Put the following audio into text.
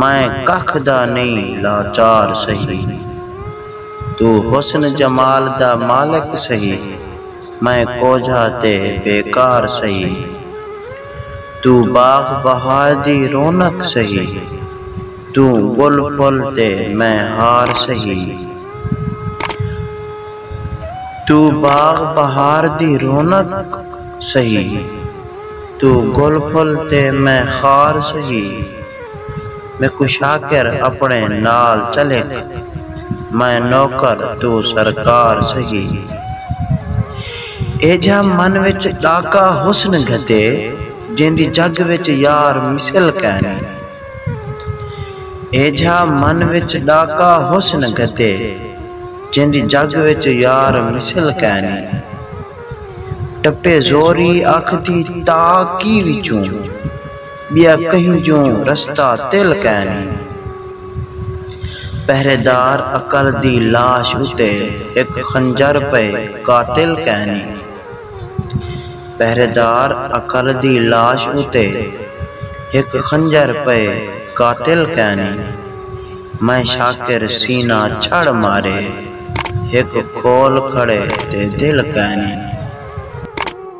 میں ککھ دا نئیں لاچار سہی توں حسن جمال دا مالک سہی میں کوجھا تے بیکار سہی توں باغ بہار دی رونق سہی توں ڳل پھل تے میں ہار سہی۔ توں باغ بہار دی رونق سہی۔ توں گل پھل تے میں خار سہی۔ میکوں شاکر اپݨے نال چل ہک۔ میں نوکر توں سرکار سہی۔ ایجھا من وچ ݙاکا حسن گھدے۔ جیندی جڳ وچ یار مثل کینی۔ ایجھا من وچ ݙاکا حسن گھدے۔ جیندی جگ وچ یار مثل کینی۔ ٹپے زوری اکھ دی تا کی وچوں۔ ٻیا کہیں جوں رستہ تل کینی۔ پہرے دار عقل دی لاش اتے ہک خنجر پئے قاتل کینی۔ پہریدار اکل دی لاش اتے ہک خنجر پئے قاتل کینی میں شاکر سینہ چھڑ مارے ہک کھول کھڑے تے دل کینی۔